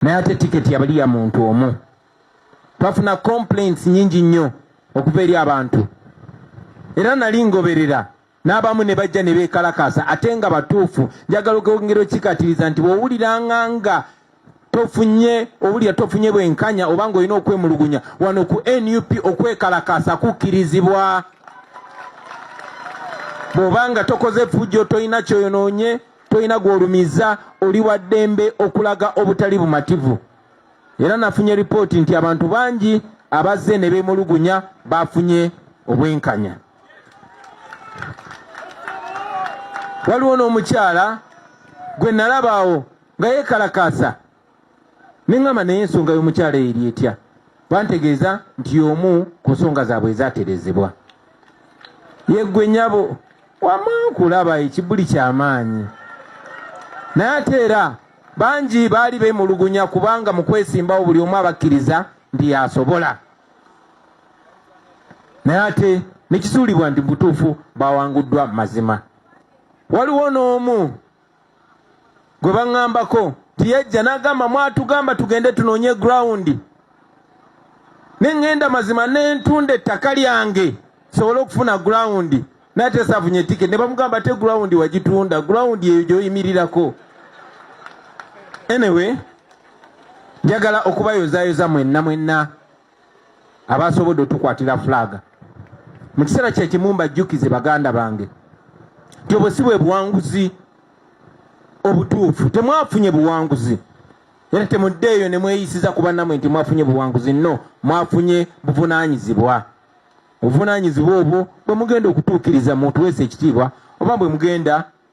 naye ate tiketi yabali ya muntu omu twafuna complaints nyingi nnyo okuva eri abantu era nali ngoberera n'abamu ne bajja ne beekalakaasa ate nga batuufu njagala okwongera okikatiriza nti bw'owuliranga nga tofunye owulira tofunye bwenkanya oba nga olina okwemulugunya wano ku nup okwekalakaasa kukkirizibwa bw'oba nga tokoze fujjo tolina kyoyonoonye tolina gw'olumiza oli wa ddembe okulaga obutali bumativu era nafunye lipooti nti abantu bangi abazze ne beemulugunya baafunye obwenkanya waliwo n'omukyala gwe nalabaawo nga yeekalakaasa neŋŋamba naye ensonga y'omukyala eri etya bantegeeza nti y'omu ku nsonga zaabwe ezaterezebwa yeggwe nyabo wama nkulaba ekibuli kyamaanyi naye ate era bangi baali bemulugunya kubanga mu kwesimbawo buli omu abakkiriza nti yasobola naye ate nekisuulibwa nti butuufu bawanguddwa mazima waliwo n'omu gwe baŋŋambako nti yajja n'agamba mwatugamba tugende tunoonye gurawundi ne ŋŋenda mazima ne ntunda ettaka lyange sobole okufuna gurawundi naye ate saafunye etiketi ne bamugamba ate gurawundi wagitunda gurawundi eyo gy'oyimirirako anyway njagala okubayozayoza mwenna mwenna abaasobodde otukwatira fulaaga mu kiseera kye kimu mbajjukize baganda bange nti obwo si bwe buwanguzi obutuufu temwafunye buwanguzi era temuddeeyo ne mweyisiza ku bannamwe nti mwafunye buwanguzi nno mwafunye buvunaanyizibwa obuvunaanyizibwa obwo bwe mugenda okutuukiriza mutuweesa ekitiibwa oba bwe mugenda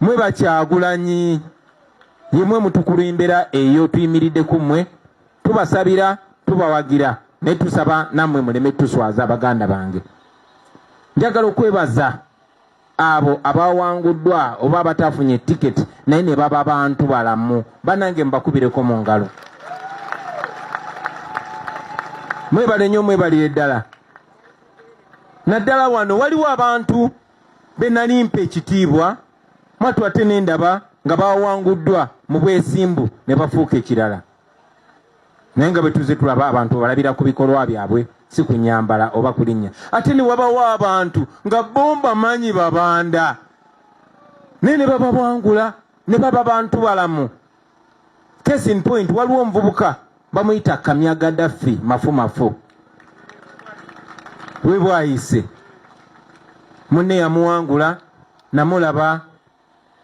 mwe bakyagulanyi yemwe mutukulembera eyo tuyimiridde ku mmwe tubasabira tubawagira naye tusaba nammwe muleme tuswaza baganda bange njagala okwebaza abo abawanguddwa oba abatafunye tiketi naye ne baba bantu balamu banange mubakubireko mu ngalo mwebale nnyo mwebalire ddala naddala wano waliwo abantu be nali mpa ekitiibwa mwattu ate ne ndaba nga bawanguddwa mu bwesimbu ne bafuuka ekirala naye nga bwetuze tulaba abantu balabira ku bikolwa byabwe si ku nyambala oba kulinnya ate ne wabawo abantu nga bomba manyi babanda naye ne babawangula ne baba bantu balamu case in point waliwo omuvubuka bamuyita kamya gadafi mafumafu webwayise munne yamuwangula namulaba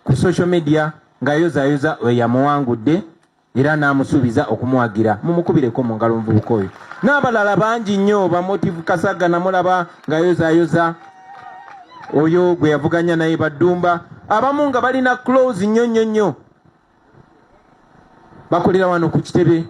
ku social media ngayozayoza weyamuwangudde era namusuubiza okumuwagira mumukubireko mu ngalo omuvubuka oyo n'abalala bangi nnyo bamotive kasaga namulaba ngayozayoza oyo gwe yavuganya naye baddumba abamu nga balina close nnyo nnyo nnyo bakolera wano ku kitebe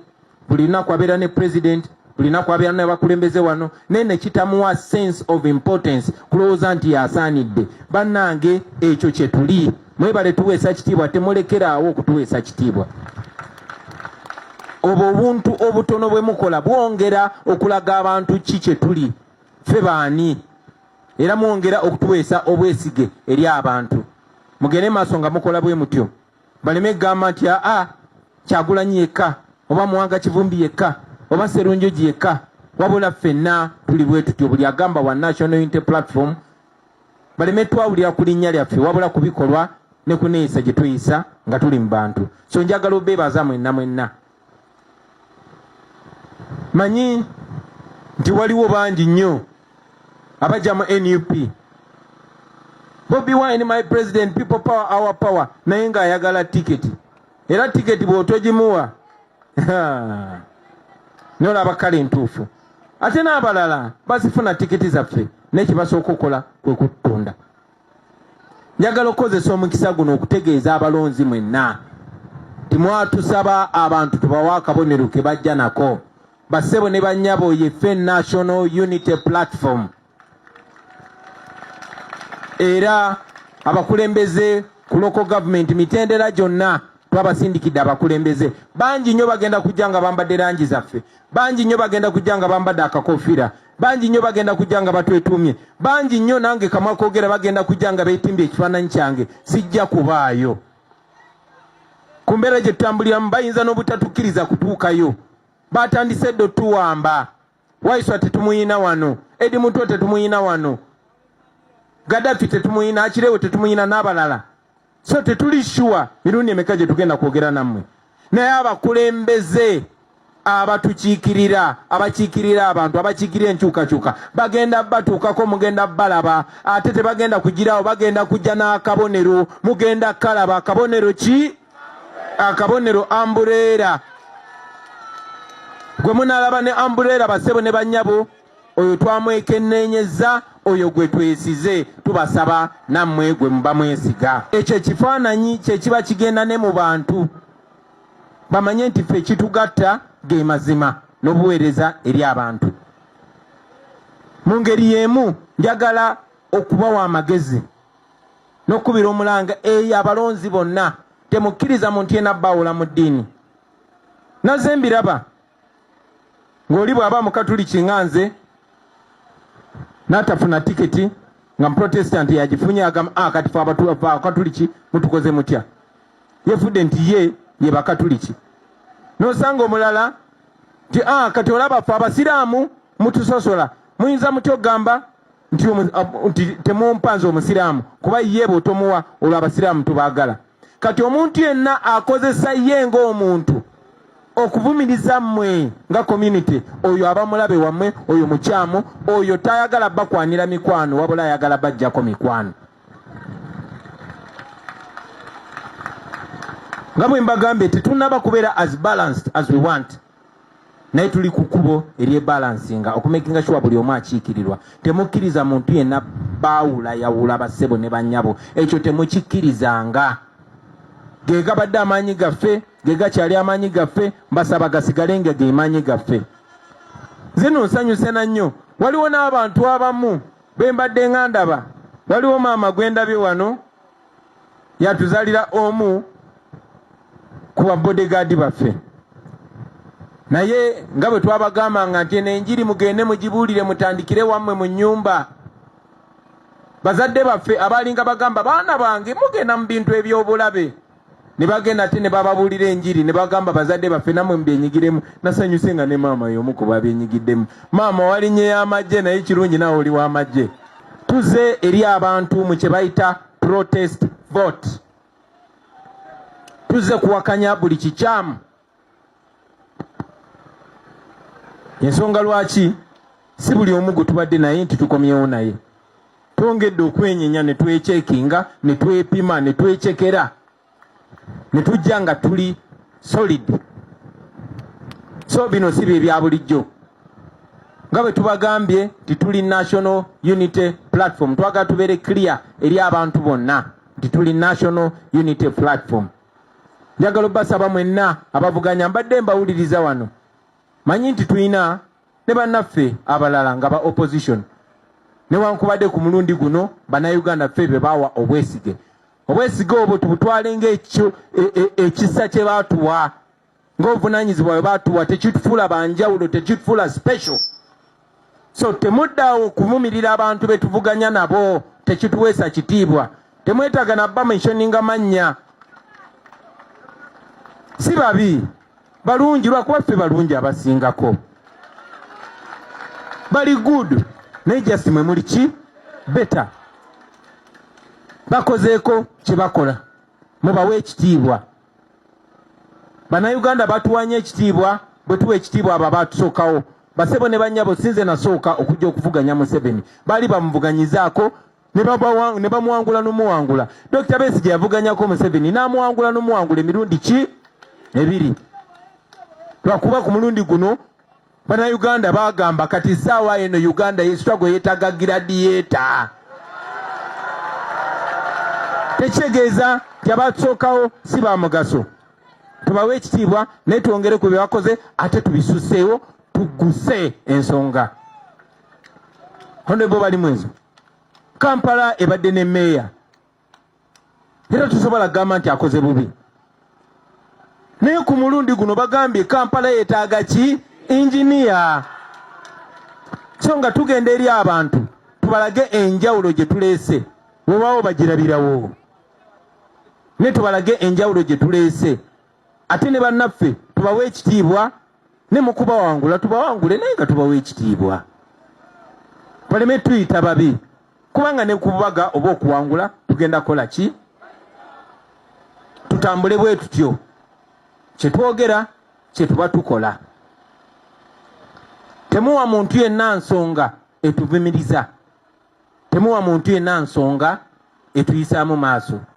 buli lunaku abeera ne president buli lunaku abeera nabakulembeze wano naye nekitamuwa sense of importance kulowooza nti yasaanidde bannange ekyo kyetuli mwebale tuweesa kitiibwa temulekeraawo okutuweesa kitiibwa obwo obuntu obutono bwe mukola bwongera okulaga abantu ki kyetuli ffe baani era mwongera okutuweesa obwesige eri abantu mugende maaso nga mukola bwe mutyo baleme kugamba nti aa kyagulanyi yekka oba muwanga kivumbi yekka oba serunjoji yekka wabula ffenna tuli bwe tutyo buli agamba wa national unity platform baleme twawulira ku linnya lyaffe wabula ku bikolwa ne kuneeyisa gye tweyisa nga tuli mu bantu so njagala obeebaza mwenna mwenna manyi nti waliwo bangi nnyo abajja mu nup bobi wine my president people power our power naye nga ayagala tiketi era tiketi bwotogimuwa nolaba kale ntuufu ate n'abalala bazifuna tiketi zaffe nekibasooka okukola kwe kutunda Njagala okukozesa omukisa guno okutegeeza abalonzi mwenna timwatusaba abantu tubawa akabonero ke bajja nako bassebo ne bannyabo yefe National Unity Platform era abakulembeze ku local government mitendera gyonna twabasindikidde abakulembeze bangi nnyo bagenda kujja nga bambadde langi zaffe bangi nnyo bagenda kujja nga bambadde akakofira bangi nnyo bagenda kujja nga batwetuumye bangi nnyo nange kamwa kogera bagenda kujja nga beetimbye ekifaananyi kyange sijja kubaayo ku mbeera gye tutambuliramu bayinza n'obutatukkiriza kutuukayo batandise edda otuwamba waiswa tetumuyina wano edi mutwe tetumuyina wano gadafi tetumuyina akirewe tetumuyina n'abalala so tetuli shuwa mirundi emeka gye tugenda kwogera nammwe naye abakulembeze abatukiikirira abakiikirira abantu abakiikirira enkyukakyuka bagenda batuukako mugenda balaba ate tebagenda kugirawo bagenda kujja n'akabonero mugenda kalaba akabonero ki akabonero ambureera gwe munalaba ne ambureera basebo ne banyabo oyo twamwekenneenyezza oyo gwe twesize tubasaba nammwe gwe muba mwesiga ekyo ekifaananyi kye kiba kigenda ne mu bantu bamanye nti ffe ekitugatta ge mazima n'obuweereza eri abantu mu ngeri y'emu njagala okubawa amagezi n'okukubira omulanga eyo abalonzi bonna temukkiriza muntu yena bawula mu ddiini naze mbiraba ng'oli bw'aba mukatuliki nga nze n'atafuna tiketi nga muprotestant yagifunye agamba ah, kati fe abakatuliki mutukoze mutya yefudde nti ye ye bakatuliki n'osanga omulala nti ah, kati olaba fe abasiraamu mutusosola muyinza mutya okugamba nti temumpa nze omusiraamu kuba ye bwotomuwa olwo abasiraamu tubagala kati omuntu yenna akozesa ye ngaomuntu okuvumiriza mmwe nga community oyo aba mulabe wammwe oyo mukyamu oyo tayagala bakwanira mikwano wabula ayagala bajjako mikwano nga bwe mbagambye tetunaba kubeera as balanced as we want naye tuli ku kkubo eryebalansinga okumakinga shuwa buli omu akiikirirwa temukkiriza muntu yenna baawula yawula bassebo ne bannyabo ekyo temukikkirizanga ge gabadde amaanyi gaffe ge gakyali amaanyi gaffe mbasaba gasigale nga ge maanyi gaffe zino nsanyuse na nnyo waliwo n'abantu abamu be mbadde nga ndaba waliwo maama gwe ndabye wano yatuzalira omu ku babodegaadi baffe naye nga bwe twabagambanga nti eno enjiri mugende mugibuulire mutandikire wammwe mu nnyumba bazadde baffe abaalinga bagamba baana bange mugenda mu bintu eby'obulabe ne bagenda ate ne bababuulira enjiri ne bagamba bazadde baffe namwe mubyenyigiremu nasanyuse nga ne maama y'omu ku babyenyigiddemu maama wali nye y'amagye naye kirungi nawe oli w'amagye tuze eri abantu mu kye bayita protest vote tuze kuwakanya buli kikyamu ensonga lwaki si buli omu gwe tubadde naye nti tukomyewo naye twongedde okwenyenya ne twekyekinga ne twepima ne twecekera ne tujja nga tuli solid so bino si bye bya bulijjo nga bwe tubagambye nti tuli national unity platform twagala tubeere clear eri abantu bonna nti tuli national unity platform njagala obbasaba mwenna abavuganya mbadde mbawuliriza wano manyi nti tulina ne bannaffe abalala nga ba opposition newankubadde ku mulundi guno bannayuganda ffe be baawa obwesige obwesige obwo tubutwale ngaekyo e, e, ekisa kye baatuwa ng'obuvunaanyizibwa bwe batuwa tekitufuula banjawulo tekitufuula special so temuddawo kuvumirira abantu be tuvuganya nabo tekituweesa kitiibwa temwetaaga nabba mentioninga mannya si babi balungi lwakuba ffe balungi abasingako bali good naye just mwe muli ki beta bakozeeko kye bakola mubawe ekitiibwa bannayuganda batuwanya ekitiibwa bwe tuwa ekitiibwa abo abaatusookawo basebo ne bannyabo sinze nasooka okujja okuvuganya museveni baali bamuvuganyizaako ne bamuwangula n'omuwangula dokita beesi gye yavuganyako museveni n'amuwangula n'omuwangula emirundi ki ebiri lwakuba ku mulundi guno Bana Uganda bagamba kati saawa eno Uganda yesitwago yetaga giradiyeeta tekitegeeza nti abatusookawo si bamugaso tubawe ekitiibwa naye twongere ku byebakoze ate tubisuseewo tuguse ensonga honebo bali mwezo kampala ebadde ne meeya era tusobola kugamba nti akoze bubi naye ku mulundi guno bagambye kampala yetaaga ki inginiya so nga tugenda eri abantu tubalage enjawulo gye tuleese wewaawo bagirabirawo naye tubalage enjawulo gye tuleese ate ne bannaffe tubawa ekitiibwa ne mu kubawangula tubawangule naye nga tubawa ekitiibwa baleme tuyita babi kubanga ne kububaga oba okuwangula tugenda kukola ki tutambule bwe tutyo kye twogera kye tuba tukola temuwa muntu yenna nsonga etuvumiriza temuwa muntu yenna nsonga etuyisaamu maaso